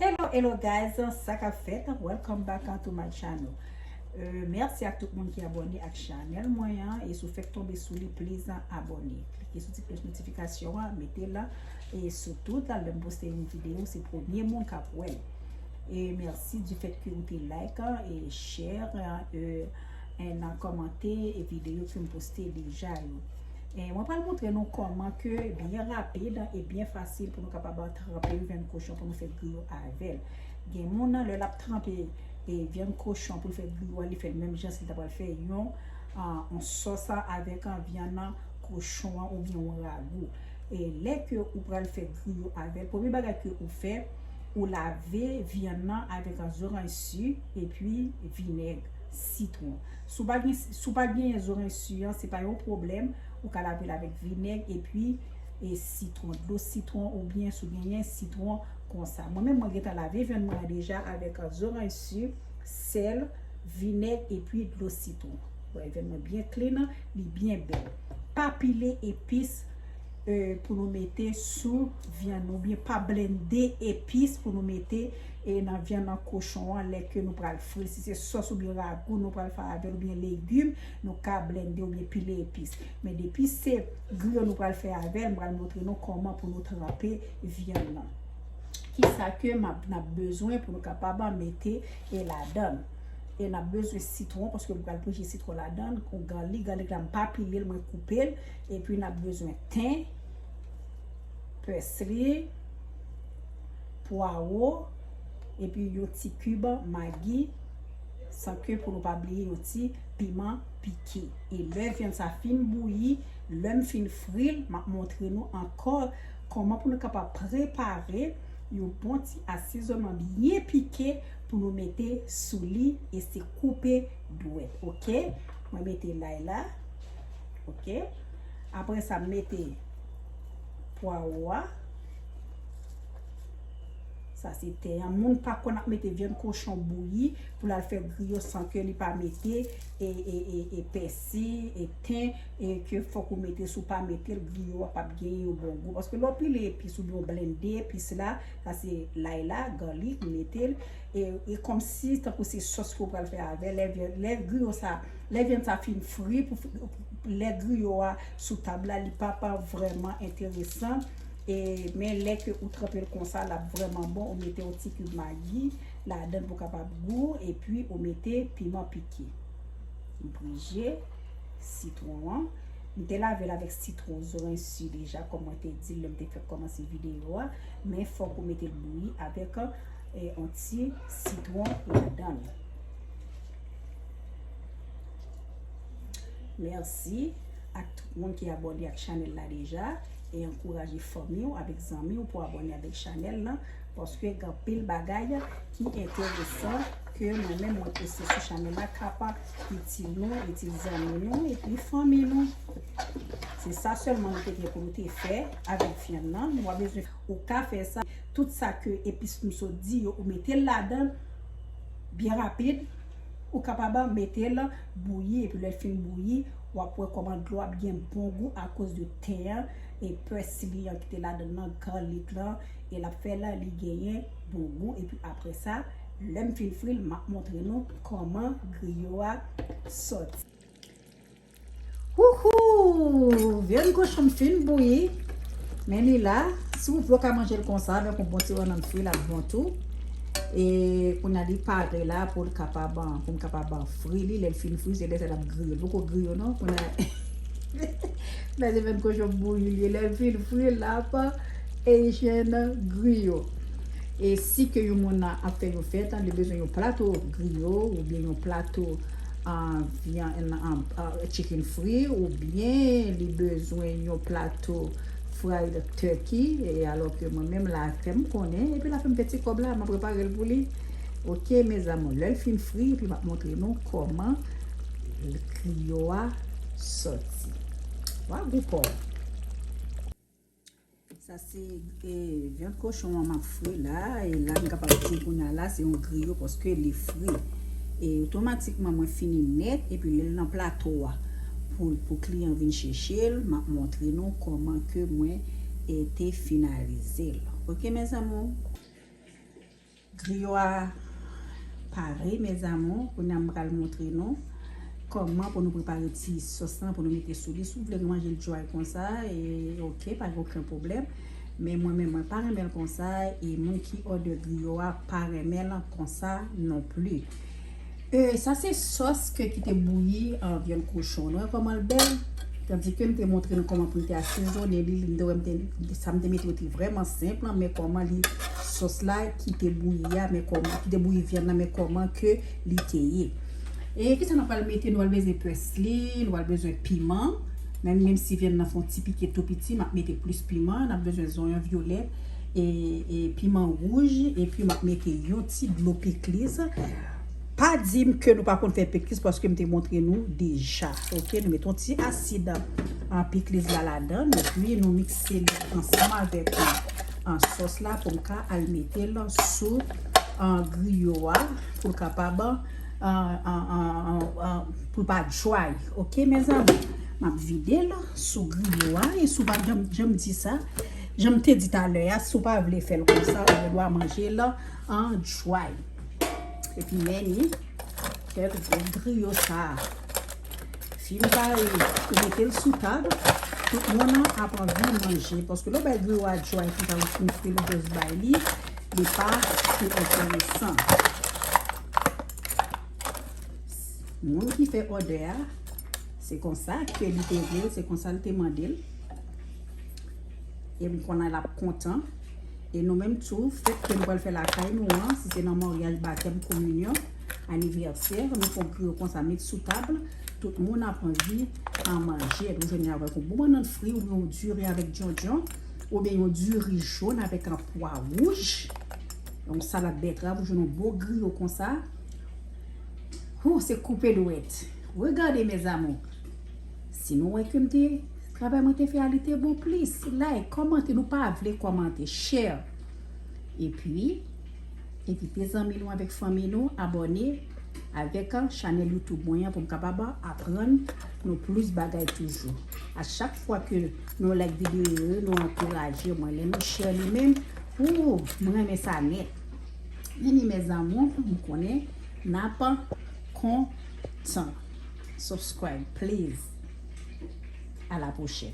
Hello hello guys, sa kap fèt, welcome back to my channel euh, Merci ak tout moun ki abone ak chanel mwen an E sou fèk tombe sou li, please abone Klike sou ti plos notifikasyon an, mete la E sou tout, lèm poste yon video, se premye moun kap wèl E merci di fèt ki ou te like, e share, e nan komante E video ki m poste deja yo Mwen pral montre nou kòman ke byen rapid e byen fasil pou nou kapab tranpe yon vyann kochon pou nou fè griyo avèl. Gen moun nan lè lap tranpe vyann kochon pou l fè griyo a li fèl menm jan si l ta pral fè yon sòs a avèk vyann nan kochon an oubyen yon ragou. E lè ke ou pral fè griyo avèl premye bagay ke ou fè ou lave vyann nan avèk zoranj si epi vinèg sitwon. Si w pa gen si w pa genyen zoren su an se pa yon pwoblèm ou ka lave l avèk vinèg epi e sitwon dlo sitwon oubyen si w genyen sitwon konsa mwen menm mwen gentan lave vyann mwen an deja avèk zoranj su sèl vinèg epi dlo sitwon ou wè vyann mwen byen klin li byen bèl pa pile epis pou nou mete sou vyann nou oubyen pa blende epis pou nou mete E nan vyann an kochon an lè ke nou pral fri si se sòs oubyen ragou nou pral fè avèl oubyen legim nou ka blende oubyen pile epis men depi se griyo nou pral fè avèl m pral montre nou kòman pou nou tranpe vyann nan kisa ke map nap bezwen pou nou kapab mete e ladann e nap bezwen sitwon paske m pral pouje sitwon ladann kon garlic garlic la m pa pilel mwen koupel epi nap bezwen ten pèsli. pwaro epi yon ti kib magi san ke pou nou pa bliye yon ti piman pike e lè vyann sa fin bouyi lèm fin fril map montre nou ankò kòman pou nou kapab prepare yon bon ti asizonman byen pike pou nou mete sou li e se koupe dwèt ok mwen mete lay la ok aprè sa mete pwaro a. Sa se te an. Moun pa konn ap mete vyann kochon bouyi pou lal fè griyo san ke li pa mete e pèsi, e ten, e ke fòk ou mete sou pa metel griyo a pap gen yon bon gou. Paske lò pile epis ou byen ou blende epis la, sa se lay la, garlic, ou metel e kòm si tankou se sòs ke ou pral fè avè lè griyo sa, lè vyann sa fin fri pou lè griyo a sou tab la li pap vrèman enteresan E men lè ke ou tranpel konsa lap vrèman bon ou mete yon ti kib magi ladann pou kapab gou epi ou mete piman pike m prije sitron an m te lavel avèk sitron zoransi deja kòm mwen te dil lèm te fèk kòmanse videyo a men fòk ou metel bouyi avèk yon ti sitron ladann mèsi ak tout moun ki abòne ak chanèl la deja. E ankouraje fanmi w avek zanmi w pou abone avek chanel lan paske gen anpil bagay ki enteresan ke mwen menm mwen poste sou chanel la ka pa itil nou, itil zanmi nou epi fanmi nou. Se sa selman nou te gen pou nou te fè avek vyann nan. Nou pa bezwen ou ka fè sa. Tout sa ke epis nou sot di yo ou mete l ladan byen rapid. Ou kapab mete l bouyi epi lè l fin bouyi wap wè koman dlo ap gen bon gou akoz de. tè a e pè siliyan ki te ladann lan garlic lan e lap fè la li genyen bon gou epi aprè sa lèm fin fril map montre nou kòman griyo a sòti. Wouhou vyann kochonm fin bouyi men li la si ou vle ou ka manjel konsa avèk yon bon ti rannann fri lap bon tou e kounya li pare la poul kapab poum kapab fri li lèl fin fri se lè sa lap griye li poko griye non kounya. Men se menm kochon bouyi li ye lèl fin fri lap echen griyo e si ke yon moun ap fè yon fèt li bezwen yon plato griyo ou byen yon plato chicken fri ou byen li bezwen yon plato fried turkey e alò ke mwen menm la fèm konnen epi la fèm fè ti kòb la map reparel pou li ok mes amour lèl fin fri epi map montre nou kòman griyo a soti. Wa gou paw. Sa se e vyan kochon an map fri la. E la m kapab di kounya la se yon griyo paske li fri. E otomatikman mwen fini nèt epi lèl nan plato a pou pou kliyan vin chechel map montre nou koman ke mwen e te finalizel. Ok mes amour. Griyo a pare mes amours kounya m pral montre nou kòman pou nou prepare ti sòs lan pou nou mete sou li si w vle manje l dry konsa ok pa gen oken pwoblèm men mwen menm mwen pa renmen l konsa e moun ki òdè griyo a pa renmen l konsa non pli. Euh sa se sòs ke kite bouyi an vyann kochon nou wè kòmanl bèl tandi kem te montre nou kòman poun te asezone li nou te wèm te sam te mete yo te vrèman senp lan men kòman li sòs la kite bouyi a men kòman kite bouyi vyann nan men kòman ke li te ye e kisa nou pral mete nou pral bezwen pèsli nou pral bezwen piman menm menm si vyann nan fon ti pike tou piti map mete plis piman nap bezwen zonyon vyolèt e piman rouj epi map mete yon ti dlo pikliz Pa dim ke nou pa konn fè pikliz paske m te montre nou deja ok nou met yon ti asid pikliz la ladann epi nou mikse li ansanm avèk sòs la pou m ka al mete l sou griyo a pou l kapab pou l pa dry ok mezanmi m ap vide l sou griyo a e sou pa janm di sa janm te di talè a sou pa vle fè l konsa ou gen dwa manje l dry. Epi men ni, fè gwo griyo sa a. Si nou pa yo, ou mete l sou tab, tout moun nan ap anvi manje. Paske lè w bay griyo a djay konsa ou fin fri l ou jis bay li, li pa pi enteresan. Moun ki fè òdè a, se konsa ke li te vle l, se konsa l te mande l. E m konnen l ap kontan. E nou menm tou, fèt ke nou pral fè lakay nou an, si se nan maryaj, batèm, kominyon, anivèsè, nou fè yon griyo konsa met sou tab, tout moun ap anvi an manje. Epi w jwenn li avèk yon bon bannann fri oubyen yon diri avèk djondjon, oubyen yon diri jòn avèk an pwa wouj, yon salad bètrav, ou jwenn yon bon griyo konsa. Hoo, se koupe dwèt. Regardez mes amours! Si nou wè ke m te. Travay mwen te fè a li te bon plis like kòmante nou pa vle kòmante share epi envite zanmi nou avèk fanmi nou abòne avèk chanèl youtube mwen an pou m kapab aprann nou plis bagay toujou a chak fwa ke nou like videyo yo nou ankouraje mwen lè nou share li menm ooh m renmen sa nèt anyway mes amours m konnen nap kontan. Subscribe please a la prochèn.